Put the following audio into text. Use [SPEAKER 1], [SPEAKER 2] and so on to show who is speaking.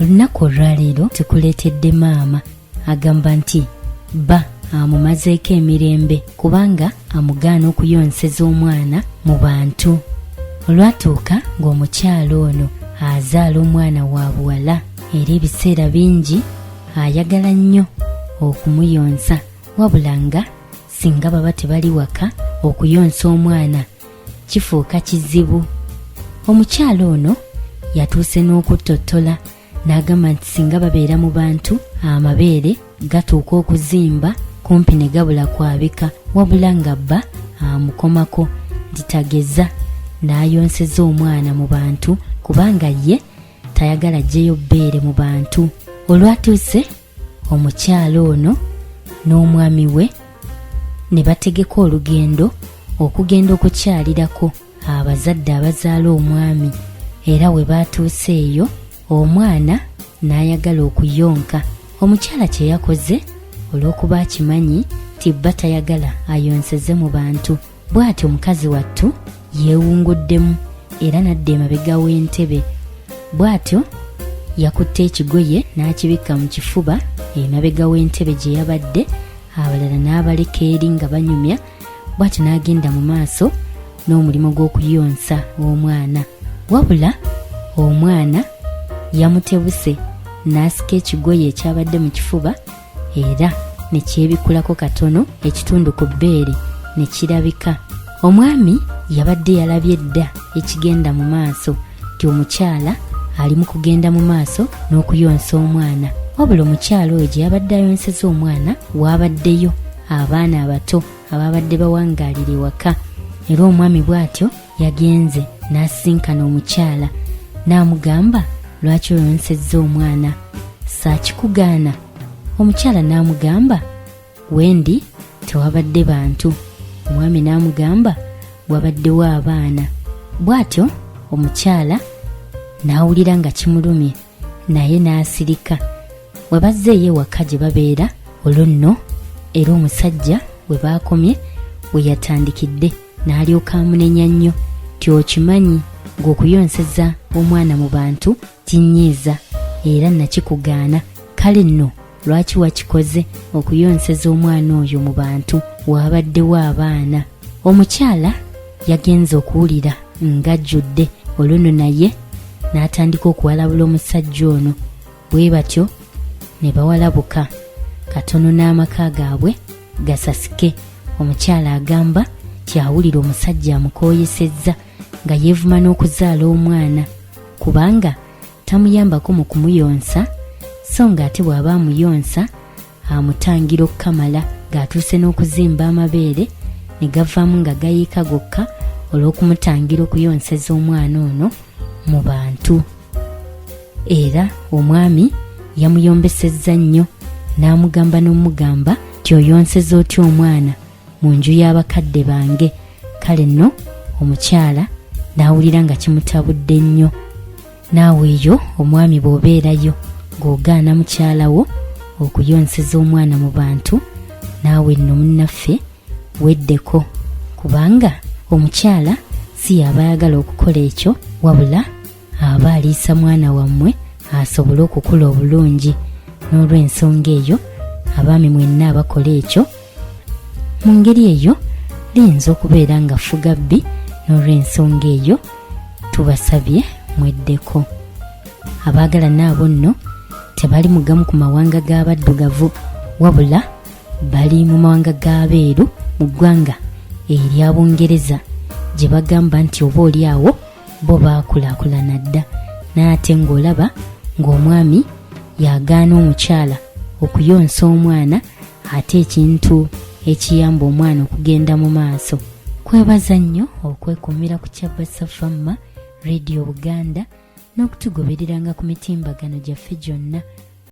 [SPEAKER 1] olunaku olwaleero tukuleetedde maama agamba nti bba amumazeeko emirembe kubanga amugaana okuyonseza omwana mu bantu olwatuuka ng'omukyalo ono azaala omwana wa buwala era ebiseera bingi ayagala nnyo okumuyonsa wabula nga singa baba tebali waka okuyonsa omwana kifuuka kizibu omukyala ono yatuuse n'okuttottola n'agamba nti singa babeera mu bantu amabeere gatuuka okuzimba kumpi ne gabula kwabika wabula nga bba amukomako nti tageza n'ayonseza omwana mu bantu kubanga ye tayagala jjeyo bbeere mu bantu olwatuuse omukyala ono n'omwami we ne bategeka olugendo okugenda okukyalirako abazadde abazaala omwami era we baatuuse eyo omwana n'ayagala okuyonka omukyala kye yakoze olw'okuba akimanyi tibba tayagala ayonseze mu bantu bw'atyo mukazi wattu yeewunguddemu era n'adda emabega w'entebe bw'atyo yakutte ekigoye n'akibikka mu kifuba emabega w'entebe gye yabadde abalala n'abaleka eri nga banyumya bw'atyo n'agenda mu maaso n'omulimu gw'okuyonsa omwana wabula omwana yamutebuse n'asika ekigoye ekyabadde mu kifuba era ne kyebikulako katono ekitundu ku bbeere ne kirabika omwami yabadde yalabye dda ekigenda mu maaso nti omukyala ali mu kugenda mu maaso n'okuyonsa omwana wabula omukyala oyo gye yabadde ayonseza omwana waabaddeyo abaana abato abaabadde bawangaalira ewaka era omwami bw'atyo yagenze n'asisinkana omukyala n'amugamba lwaki oyonsezza omwana saakikugaana omukyala n'amugamba wendi tewabadde bantu omwami n'amugamba wabaddewo abaana bw'atyo omukyala n'awulira nga kimulumye naye n'asirika we bazzeeyo ewaka gye babeera olwo nno era omusajja we baakomye we yatandikidde n'alyoka amunenya nnyo ti okimanyi ng'okuyonseza omwana mu bantu kinyiiza era nakikugaana kale nno lwaki wakikoze okuyonseza omwana oyo mu bantu waabaddewo abaana omukyala yagenze okuwulira ng'ajjudde oluno naye n'atandika okuwalabula omusajja ono bwe batyo ne bawalabuka katono n'amaka gaabwe gasasike omukyala agamba kyawulira omusajja amukooyesezza nga yeevuma n'okuzaala omwana kubanga tamuyambako mu kumuyonsa so ng'ate bw'aba amuyonsa amutangira okukamala ng'atuuse n'okuzimba amabeere ne gavaamu nga gayiika gokka olw'okumutangira okuyonseza omwana ono mu bantu era omwami yamuyombesezza nnyo n'amugamba n'omugamba nti oyonseza otya omwana mu nju y'abakadde bange kale nno omukyala n'awulira nga kimutabudde nnyo naawe eyo omwami bw'obeerayo ng'ogaana mukyala wo okuyonseza omwana mu bantu naawe nno munnaffe weddeko kubanga omukyala si yaba ayagala okukola ekyo wabula aba aliisa mwana wammwe asobole okukula obulungi n'olw'ensonga eyo abaami mwenna abakola ekyo mu ngeri eyo liyinza okubeera nga fuga bbi n'olw'ensonga eyo tubasabye mweddeko abaagala naabo nno tebali mu gamu ku mawanga g'abaddugavu wabula bali mu mawanga g'abeeru mu ggwanga erya bungereza gye bagamba nti oba oli awo bo baakulaakulana dda n'ate ng'olaba ng'omwami yagaana omukyala okuyonsa omwana ate ekintu ekiyamba omwana okugenda mu maaso kwebaza nnyo okwekumira ku kyabasa famma radio buganda n'okutugobereranga ku mitimbagano gyaffe gyonna